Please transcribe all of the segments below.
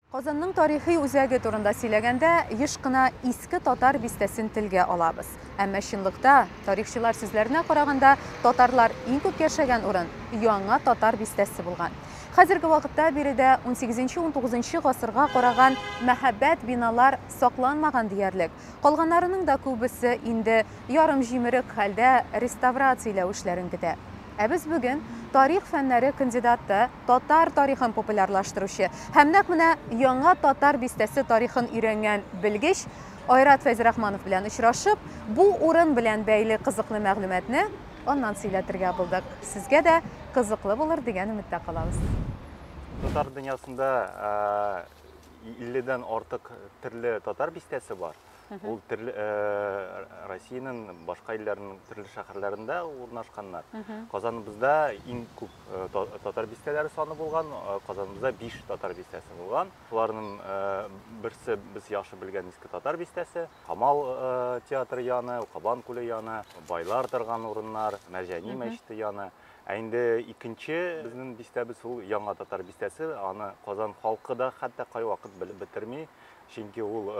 Казанның тарихи үзәге турында сөйләгәндә, еш кына Иске Татар бистәсен телгә алабыз. Әмма чынлыкта, тарихчылар сүзләренә караганда, татарлар иң күп яшәгән урын Яңа Татар бистәсе булган. Хәзерге вакытта биредә унсигезенче-унтугызынчы гасырга караган мәһабәт биналар сакланмаган диярлек, калганнарының да күбесе инде ярымҗимерек хәлдә, реставрацияләү эшләрен көтә. Ә без бүген тарих фәннәре кандидаты, татар тарихын популярлаштыручы һәм нәкъ менә яңа татар бистәсе тарихын өйрәнгән белгеч Айрат Фәйзрахманов белән очрашып, бу урын белән бәйле кызыклы мәгълүматны аннан сөйләтергә булдык. Сезгә дә кызыклы булыр дигән өметтә калабыз. Татар дөньясында 50 дән артык төрле татар бистәсе бар. Ул төрле Россиянең башка илләрнең төрле шәһәрләрендә урнашканнар. Казаныбызда иң күп татар бистәләре саны булган, Казаныбызда 5 татар бистәсе булган. Шуларның берсе без яхшы белгән иске татар бистәсе, Камал театры яны, Кабан күле яны, байлар торган урыннар, Мәрҗани мәчете яны. Ә инде икенче безнең бистәбез ул Яңа татар бистәсе. Аны Казан халкы да хәтта кайвакыт белеп бетерми. чөнки ул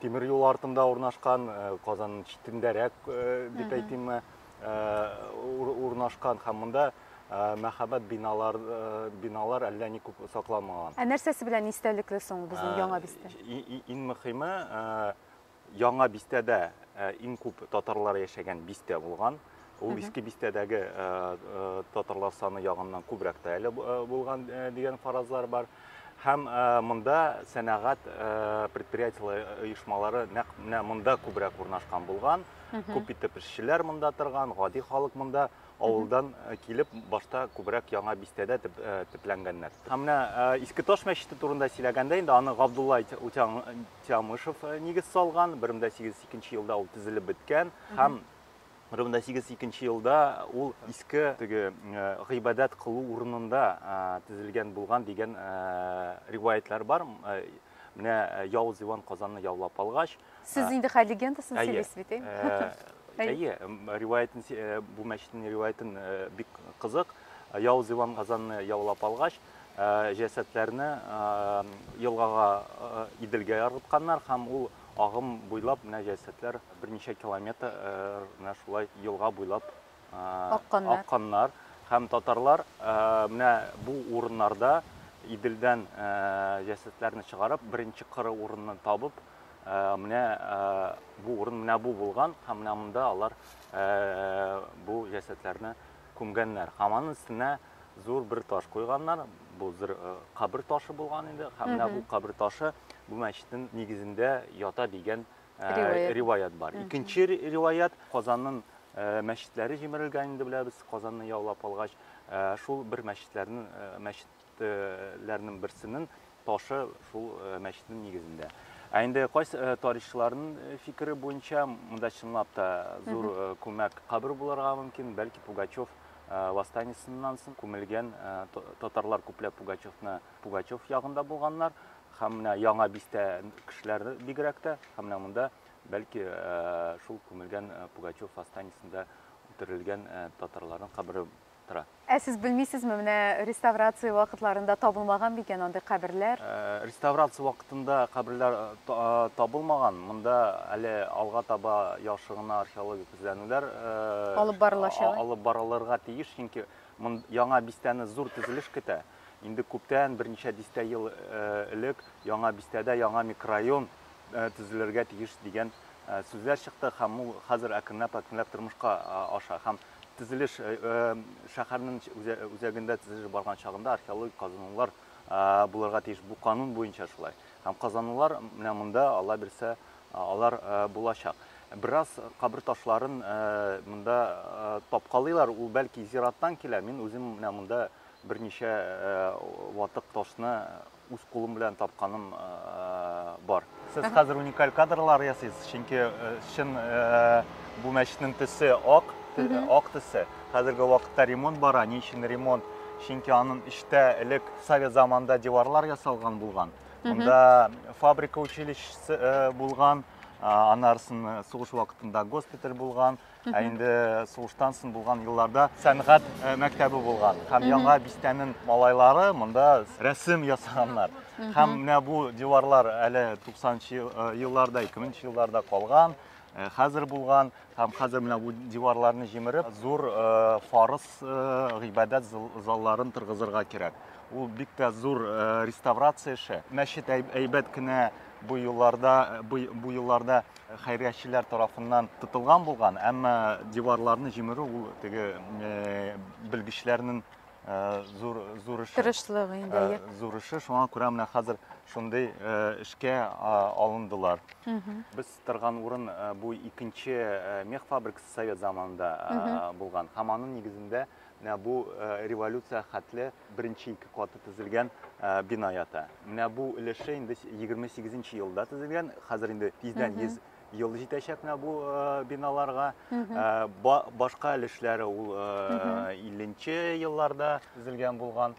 тимер юл артында урнашкан, Казан читендәрәк дип әйтимме, урнашкан һәм монда Э, мәхәббәт биналар э, биналар әллә ни күп сакламаган ә нәрсәсе белән истәлекле соң безнең э, яңа бистә иң мөхиме Яңа бистәдә иң күп татарлар яшәгән бистә булган. Ул иске бистәдәге татарлар саны ягыннан күбрәк тә әле булган дигән фаразлар бар. Һәм монда сәнәгать предприятиеләре оешмалары нәкъ менә монда күбрәк урнашкан булган. Күп итеп эшчеләр монда торган, гади халык монда авылдан килеп башта күбрәк яңа бистәдә төпләнгәннәр. Һәм менә Иске Таш мәчете турында сөйләгәндә инде аны Габдулла Утян Тямышев э, нигез салган, 1802 елда ул төзелеп беткән һәм 1802 елда ул иске теге э, гыйбадәт кылу урынында э, төзелгән булган дигән риваятлар бар. Менә Явыз Иван Казанны яулап алгач, сез инде хәл легендасын сөйлисез бит, Әйе, риваятын бу мәчетнең риваятын бик кызык. Явыз Иван Казанны яулап алгач, Җәсәдләрне елгага Иделгә ыргытканнар һәм ул агым буйлап менә җәсәдләр берничә километр менә шулай елга буйлап акканнар. акканнар. Һәм татарлар менә бу урыннарда Иделдән җәсәдләрне чыгарып, беренче кыры урынны табып, менә бу урын менә бу булган һәм менә монда алар бу җәсәдләрне күмгәннәр. Һәм аның өстенә зур бер таш куйганнар. Бу зур э, кабер ташы булган инде. Һәм менә бу кабер ташы бу мәчетнең нигезендә ята дигән э, риваять бар. Икенче риваять Казанның э, мәчетләре җимерелгән инде беләбез. Казанны яулап алгач, шул бер мәчетләрнең мәчетләрнең берсенең Ташы шул мәчетнең нигезендә. Ә инде кайсы тарихчыларның фикере буенча, монда чынлап та зур күмәк кабер булырга мөмкин, бәлки Пугачев восстаниесыннан соң күмелгән татарлар күпләп Пугачевны Пугачев ягында булганнар һәм менә яңа бистә кешеләре бигрәк тә һәм менә монда бәлки шул күмелгән Пугачев останесында үтерелгән татарларның кабере тора. Ә сез белмисезме, менә реставрация вакытларында табылмаган микән андый каберләр? Реставрация вакытында каберләр табылмаган. Монда әле алга таба яхшы гына археологик эзләнүләр алып барылачак. Алып барылырга тиеш, чөнки яңа бистәне зур төзелеш көтә. Инде күптән, берничә дистә ел элек яңа бистәдә яңа микрорайон төзелергә тиеш дигән сүзләр чыкты һәм ул хәзер әкренләп-әкренләп тормышка аша. Һәм Төзелеш шәһәрнең үзәгендә төзелеш барган чагында археологик казынулар булырга тиеш. Бу канун буенча шулай. Һәм казанулар менә монда Алла бирсә, алар булачак. Бераз кабер ташларын монда тапкалыйлар. Ул бәлки зираттан килә. Мин үзем менә монда берничә ватык ташны үз кулым белән тапканым бар. Сез хәзер уникаль кадрлар ясыйсыз, чөнки чын бу мәчетнең төсе ак, ак төсе. Хәзерге вакытта ремонт бара. Ни өчен ремонт? Чөнки аның эчтә элек совет заманында диварлар ясалган булган. Монда фабрика училищесы булган, анарсын сугыш вакытында госпиталь булган. Ә инде сугыштан соң булган елларда сәнгать э, мәктәбе булган һәм яңа бистәнең малайлары монда рәсем ясаганнар. Һәм менә бу диварлар әле 90-нчы э, елларда, 2000-нчы елларда калган, э, хәзер булган һәм хәзер менә бу диварларны җимереп, зур фарыз гыйбадәт залларын торгызырга кирәк. Ул бик тә зур реставрация эше. Мәчет әйбәт кенә бу елларда бу елларда хәйриячеләр тарафыннан тотылган булган, әмма диварларны җимерү ул теге белгечләрнең зур зур эше. Тырышлыгы инде. Зур эше, шуңа күрә менә хәзер шундый эшкә алындылар. Без торган урын бу икенче мех фабрикасы совет заманында булган. Һәм аның нигезендә бу революция хәтле беренче ике каты тезелгән бина ята. Менә бу өлеше инде 28 нче елда тезелгән. Хәзер инде тиздән 100 ел җитәчәк менә бу биналарга. Башка өлешләре ул 50 нче елларда тезелгән булган.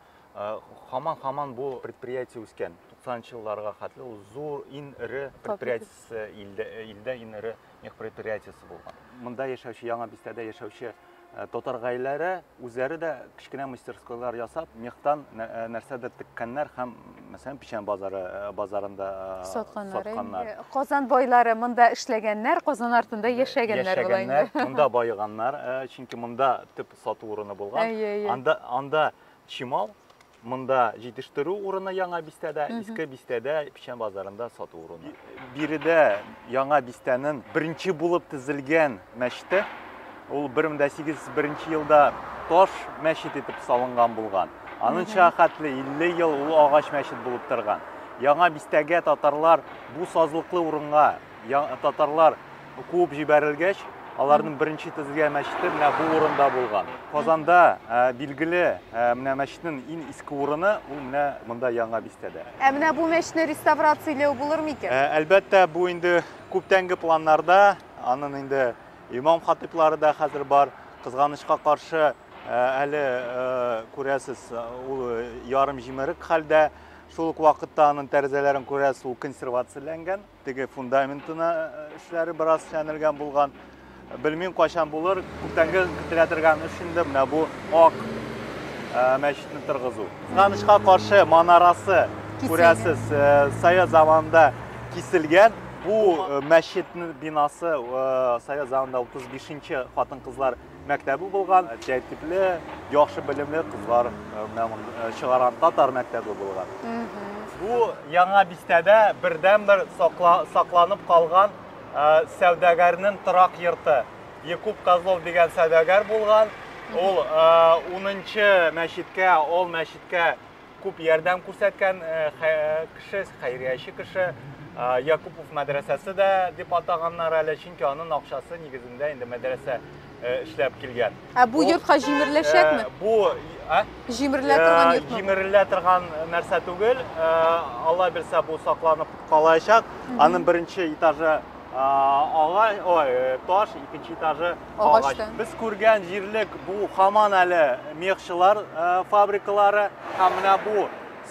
Хаман-хаман бу предприятие үскән. 90 нчы елларга хәтле ул зур, иң эре предприятиесе илдә, илдә иң эре мех предприятиесе булган. Монда яшәүче, Яңа бистәдә яшәүче Э, татар гаиләре үзләре дә кечкенә мастерскойлар ясап мехтан э, нәрсәдер теккәннәр һәм мәсәлән печән базары э, базарында сатканнар казан байлары монда эшләгәннәр казан артында яшәгәннәр була инде монда баеганнар чөнки монда төп сату урыны булган анда анда чимал Монда җитештерү урыны Яңа бистәдә, Иске бистәдә, Печән базарында сату урыны. Биредә Яңа бистәнең беренче булып төзелгән мәчете. Ул 1801 елда таш мәчет итеп салынган булган. Аныңча хәтле 50 ел ул агач мәчет булып торган. Яңа бистәгә татарлар бу сазлыклы урынга Татарлар куып җибәрелгәч, аларның беренче төзелгән мәчете менә бу урында булган. Казанда билгеле менә мәчетнең иң иске урыны ул менә монда яңа бистәдә. Ә менә бу мәчетне реставрацияләү булыр микән? Ә, әлбәттә, бу инде күптәнге планнарда. Аның инде имам хатиплары да хәзер бар. Кызганычка каршы, әле күрәсез, ул ярым җимерек хәлдә. Шул ук вакытта аның тәрәзәләрен күрәсез, ул консервацияләнгән. Теге фундаментына эшләре бераз чәнелгән булган. Белмим кайчан булыр. Күптәнге көтелә торган эш инде менә бу ак мәчетне торгызу. Кызганычка каршы манарасы күрәсез совет заманында киселгән. Бу мәчетнең бинасы совет заманында 35 нче хатын-кызлар мәктәбе булган, тәртипле, яхшы белемле кызлар э, чыгарган татар мәктәбе булган. Бу яңа бистәдә бердәнбер сакланып калган э, сәүдәгәрнең торак йорты. Якуб Козлов дигән сәүдәгәр булган. Ул 10 э, мәчеткә, ул мәчеткә Күп ярдәм күрсәткән кеше, хәйрияче кеше. Якупов мәдрәсәсе дә дип атаганнар әле, чөнки аның акчасы нигезендә инде мәдрәсә эшләп килгән. Ә бу йортка җимереләчәкме? Бу җимерелә торган йортмы? Җимерелә торган нәрсә түгел. Алла бирсә, бу сакланып калачак. Аның беренче этажы ага, ой, таш, икенче этажы Агач. Без күргән җирлек бу хаман әле мехчылар фабрикалары. Һәм менә бу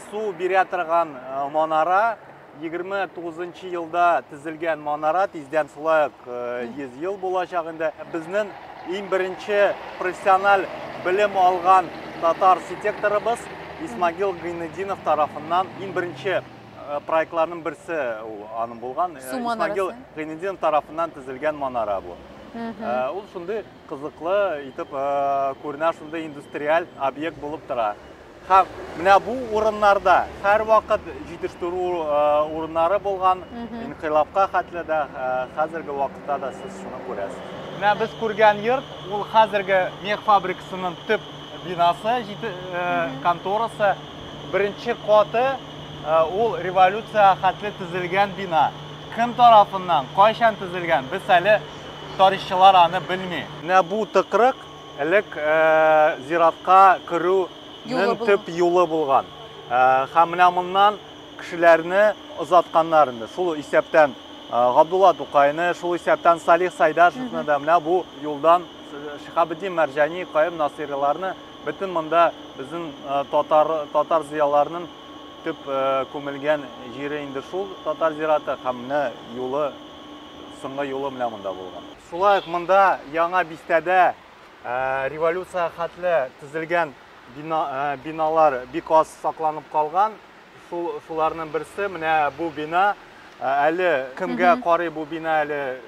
су бирә торган манара 29 елда тезелгән манара тиздән шулай ук 100 ел булачак инде. Безнең иң беренче профессиональ белем алган татар архитекторыбыз Исмагил Гыйнединов тарафыннан иң беренче Э, проектларның берсе ул аның булган э, су манарасы гыйнедин тарафыннан төзелгән манара бу э, ул шундый кызыклы итеп күренә шундый индустриаль объект булып тора һәм менә бу урыннарда һәрвакыт җитештерү урыннары булган инкыйлабка хәтле дә хәзерге вакытта да сез шуны күрәсез менә без күргән йорт ул хәзерге мех фабрикасының төп бинасы конторасы беренче каты Ә, ул революциягә хәтле төзелгән бина. Кем тарафыннан, кайчан төзелгән, без әле тарихчылар аны белми. Менә бу тыкрык элек ә, зиратка керүнең төп юлы булган. Ә, һәм менә моннан кешеләрне озатканнар инде. Шул исәптән ә, Габдулла Тукайны, шул исәптән Салих Сайдашевны да менә бу юлдан Шихабетдин Мәрҗани, Каем Насыйриларны Бөтен монда безнең татар, татар зыяларының төп күмелгән җире инде шул татар зираты һәм менә юлы, соңгы юлы менә монда булган. Шулай ук монда яңа бистәдә революция хәтле төзелгән бина, биналар бик аз сакланып калган. Шул, шуларның берсе менә бу бина. Әле кемгә карый бу бина әле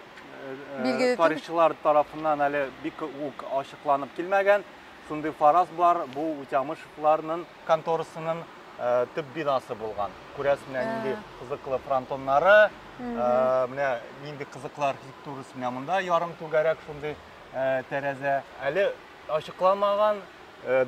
тарихчылар тарафыннан әле бик үк ачыкланып килмәгән. Шундый фараз бар, бу Утямышевларның конторасының төп бинасы булган. Күрәсең, нинди кызыклы фронтоннары, менә нинди кызыклы архитектурасы менә монда ярым түгәрәк шундый тәрәзә. Әле ачыкланмаган,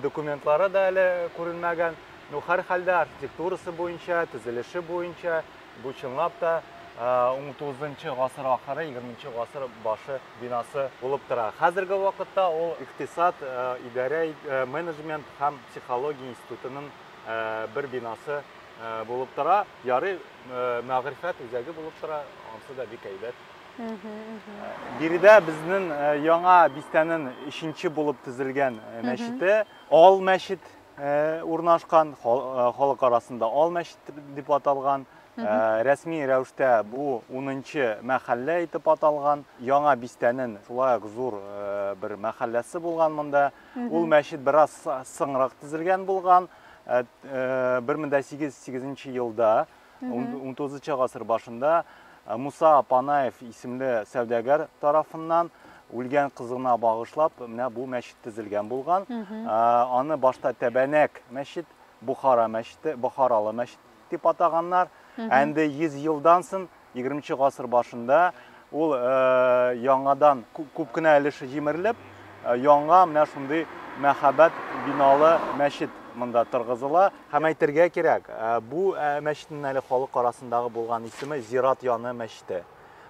документлары да әле күренмәгән. Ну, һәр хәлдә архитектурасы буенча, төзелеше буенча бу чынлап та 19 гасыр ахыры, 20 гасыр башы бинасы булып тора. Хәзерге вакытта ул икътисад, идарә, менеджмент һәм психология институтының бер бинасы булып тора. Ярый, мәгърифәт үзәге булып тора, ансы да бик әйбәт. Биредә безнең яңа бистәнең өченче булып төзелгән мәчете, Ал мәчет урнашкан, халык арасында Ал мәчет дип аталган. Рәсми рәвештә бу унынчы мәхәллә итеп аталган. Яңа бистәнен шулай ук зур бер мәхәлләсе булган монда. Ул мәчет бераз соңрак төзелгән булган. 1808 елда, 19 гасыр башында Муса Панаев исемле сәүдәгәр тарафыннан үлгән кызына багышлап менә бу мәчет төзелгән булган. Аны башта Тәбәнәк мәчет, Бухара мәчете, Бухаралы мәчет дип атаганнар. Ә инде 100 елдан сон, 20 гасыр башында ул яңадан күп кенә өлеше җимерелеп, яңа менә шундый мәһабәт биналы мәчет монда торгызыла. Һәм әйтергә кирәк, бу мәчетнең әле халык арасындагы булган исеме Зират яны мәчете.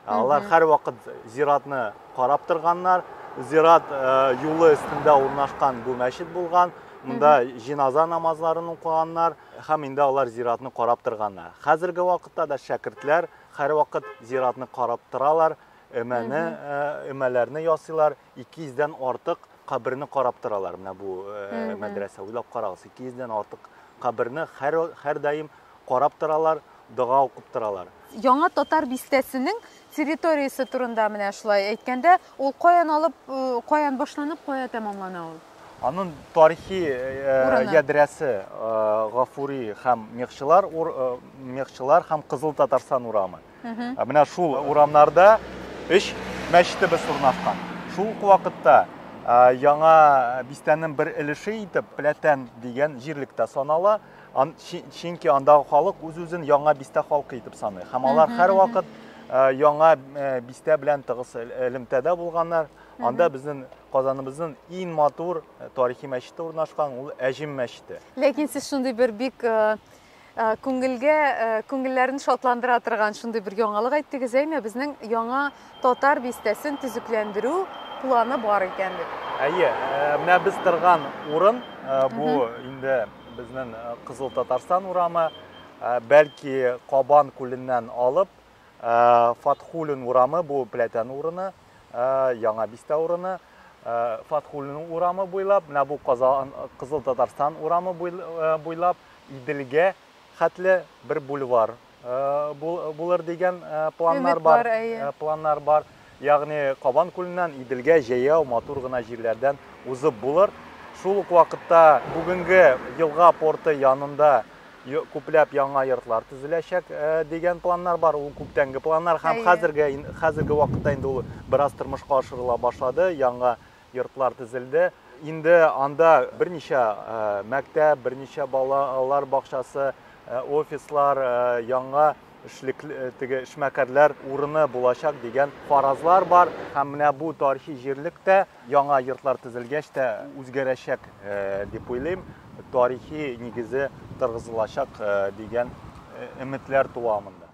Ә алар һәрвакыт зиратны карап торганнар. Зират э, юлы өстендә урнашкан бу мәчет булган. Монда җиназа намазларын укыганнар һәм инде алар зиратны карап торганнар. Хәзерге вакытта да шәкертләр һәрвакыт зиратны карап торалар, өмәне, э, өмәләрне ясыйлар, ике йөздән артык каберне карап торалар менә бу э, мәдрәсә уйлап карагыз ике йөздән артык каберне һәр һәрдаим карап торалар дога укып торалар яңа татар бистәсенең территориясе турында менә шулай әйткәндә ул каян алып э, каян башланып кая тәмамлана ул аның тарихи э, ядрәсе гафури һәм мехчылар мехчылар һәм кызыл татарстан урамы Менә шул урамнарда өч мәчетебез урнашкан. Шул ук вакытта яңа бистәнең бер өлеше итеп Пләтән дигән җирлек тә санала. Чөнки андагы халык үз-үзен яңа бистә халкы итеп саный. Һәм алар һәрвакыт яңа бистә белән тыгыз элемтәдә булганнар. Анда безнең Казаныбызның иң матур тарихи мәчете урнашкан, ул Әҗем мәчете. Ләкин сез шундый бер бик Э, күңелгә э, күңелләрен шатландыра торган шундый бер яңалык әйттегез әйме безнең яңа татар бистәсен төзекләндерү планы бар икән дип әйе э, менә без торган урын бу инде безнең кызыл татарстан урамы бәлки кабан күленнән алып фатхулин урамы бу пләтән урыны Яңа бистә урыны, Фатхуллинның урамы буйлап, менә бу Казан Кызыл Татарстан урамы буйлап Иделгә хәтле бер бульвар булыр дигән планнар бар. Планнар бар. Ягъни Кабан күленнән Иделгә җәяү матур гына җирләрдән узып булыр. Шул ук вакытта бүгенге елга порты янында күпләп яңа йортлар төзеләчәк э, дигән планнар бар. Ул күптәнге планнар һәм хәзерге хәзерге вакытта инде ул бераз тормышка ашырыла башлады. Яңа йортлар төзелде. Инде анда берничә э, мәктәп, берничә балалар бакчасы, э, офислар, яңа эшлек теге эшмәкәрләр урыны булачак дигән фаразлар бар. Һәм менә бу тарихи җирлектә Яңа йортлар төзелгәч тә үзгәрәчәк дип уйлыйм, тарихи нигезе торгызылачак дигән өметләр туа монда.